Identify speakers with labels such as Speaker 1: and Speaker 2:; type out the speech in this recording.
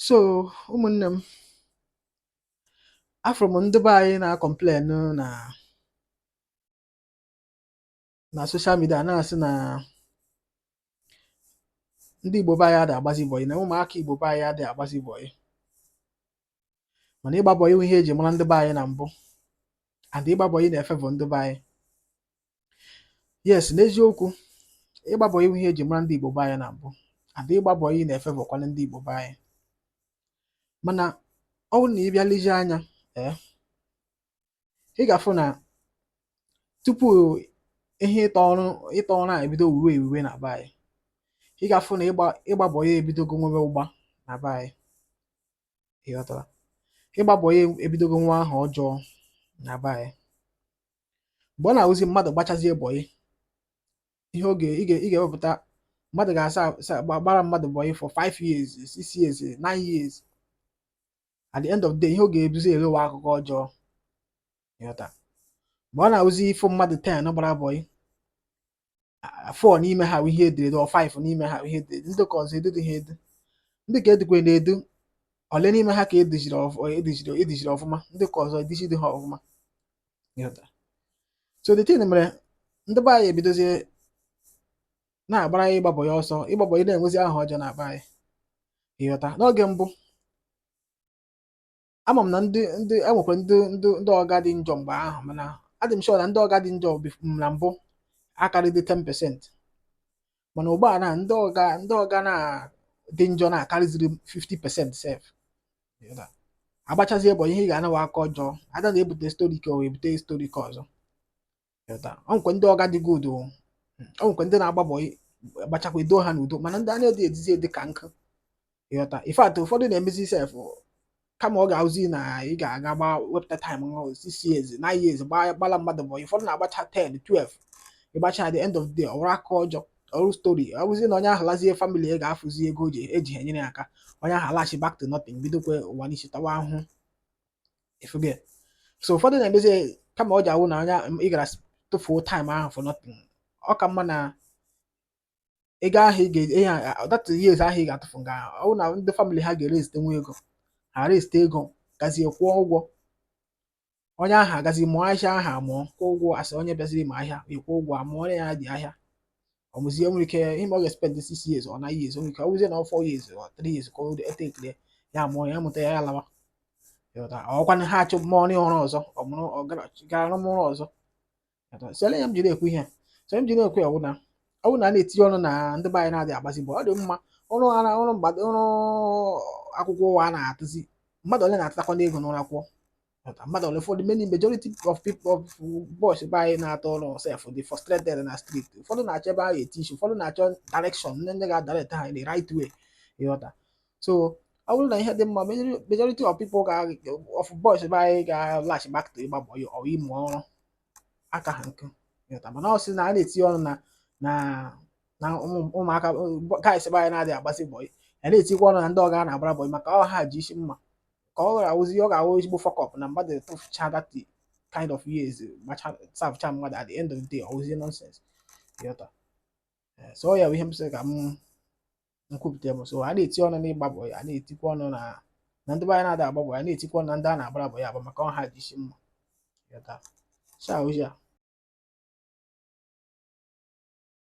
Speaker 1: so ụmụnne m afụrụ m ndị be anyị na-akọmplen na na soshal midia na-asị na ndị igbo be anyị adị agbazi bọyị na ụmụaka igbo be anyị adị agbazi bọyị mana ịgba bọyị bụ ihe eji mara ndị be anyị na mbụ and ịgba bọyị na-efevọ ndị be anyị yes n'eziokwu ịgba bọyị wụ ihe eji mara ndị Igbo be anyị na mbụ and ịgba bọyị na-efevọkwanụ ndị Igbo be anyị mana ọ bụrụ na ị bịa lezie anya ee eh, ị ga-afụ na tupu ihe ịtọ ọrụ ịtọ ọrụ a ebido wuwe ewuwe na be anyị ị ga-afụ na ịgba bọyị ebidogo nwewe ụgba na be anyị ịghọtara ịgba bọyị ebidogo nwewe aha ọjọọ na be anyị mgbe ọ na-awụzi mmadụ gbachazie bọyị ihe oge ị ga-ewepụta mmadụ ga-asa gbara mmadụ bọyị for 5 years 6 years 9 years at the end of the day ihe ọ ga-ebuzi erewa akụkọ ọjọọ ịghọta mgbe ọ na-awụzi ị fụ mmadụ 10 gbara bọyị four n'ime ha bụ ihe e duru edu or five n'ime ha bụ ihe e duru edu ndị ka ọzọ edudu ha edu ndị ka edukwanụ edu ole n'ime ha ka eduziri eduziri eduziri ọfụma ndị ka ọzọ eduziri ha ọfụma so the thing mere ndị be anyị ebidozie na-agbara ịgba bọyị ọsọ ịgba bọyị na-enwezi aha ọjọọ na be anyị ịghọta n'oge mbụ ama m na ndị ndị e nwekwara ndị ndị ndị ọga dị njọ mgbe ahụ mana adị m sure na ndị ọga dị njọ bif- m na mbụ akarịdị 10% mana ugbu a na ndị ọga ndị ọga na dị njọ na-akarịziri 50% sef Ịghọta? agbachazie bọyị ị ga-anawa aka ọjọọ and a na-ebute stori ka a ebute stori ka ọzọ ịghọta o nwekwa ndị ọga dị good o o nwekwa ndị na-agba bọyị gbachakwa e duo ha n'udo mana ndị a na-adị eduzi edu ka nnukwu ịghọta in fact ụfọdụ na-emezi sef kama ọ ga-awụzi na ị ga-aga gba wepụta taịm nwa six years nine years gbaa- gbala mmadụ bọyị ụfọdụ na-agbacha 10 12 ịgbacha at the end of the day ọ wụrụ aka ọjọọ ọ wụrụ stori ọ bụzi na onye ahụ lazie famili ya ga-afụzi ego o ji eji ha enyere ya aka onye ahụ alachi back to nothing bidokwa ụwa n'isi tawa ahụhụ ị fụgo so ụfọdụ na-emezi kama ọ ja-awụ na ị gara tụfuo taịm ahụ for nothing ọ ka mma na ego ahụ ị ga-eji ihe that years ahụ ị ga-atụfu nga ọ bụ na ndị famịlị ha ga-erezite nwa ego ha rezite ego gazie kwụọ ụgwọ onye ahụ agazi mụọ ahịa ahụ amụọ kwụọ ụgwọ as onye bịaziri ịmụ ahịa ị kwụọ ụgwọ amụọ onye ya dị ahịa ọ wụzie nwere ike ịma ọ ga-espend six years or nine years o nwere ike ọ wụzie na ọ four years or three years ka o etekiri ya mụọ ya mụta ya ya lawa Ịghọta? ọkwa na ha achọ mụọ na ọrụ ọzọ ọ mụrụ ọ gara gara rụọ ọrụ ọzọ Ịghọta? so ele ya m jiri ekwu ihe a. so m jiri ekwu ya wụ na ọ bụrụ na a na-eti ọnụ na ndị be anyị na-adịghị agbazi bọyị ọ dị mma ọrụ ara ọrụ mgbado ọrụ akwụkwọ ụwa a na-atụzi mmadụ ole na-atatakwa n'ego n'ụlọ akwụkwọ mmadụ ole ụfọdụ many majority of people of boys be anyị na-achọ ọrụ sef dị frustrated na street ụfọdụ na-achọ ebe ha eti isi ụfọdụ na-achọ direction ndị ndị ga-adirect ha the right way ịghọta so ọ bụrụ na ihe dị mma majority of people ga of boys be anyị ga-alachi back to ịgba bọyị or ịmụ ọrụ aka ha nkụ ịghọta mana a sị na a na-eti ọnụ na na na ụmụaka guys be anyị na-adịghị agbazi bọyị a na-etikwa ọnụ na ndị ọga a na-agbara bọyị maka ọ ha ji isi mma ka ọ ghara awụzi ọ ga-awụ ezigbo fuck up na mmadụ tufucha that kind of years macha servecha mmadụ at the end of the day ọ wụzie nonsense ịghọta Eh, so ọ ya bụ ihe m sị ka m kwupụta bụ so a na-eti ọnụ n'ịgba bọyị a na-etikwa ọnụ na na ndị be anyị na-ada agba bọyị a na-etikwa ọnụ na ndị a na-agbara bọyị agba maka ọ ha ji isi mma ịghọta share ozi a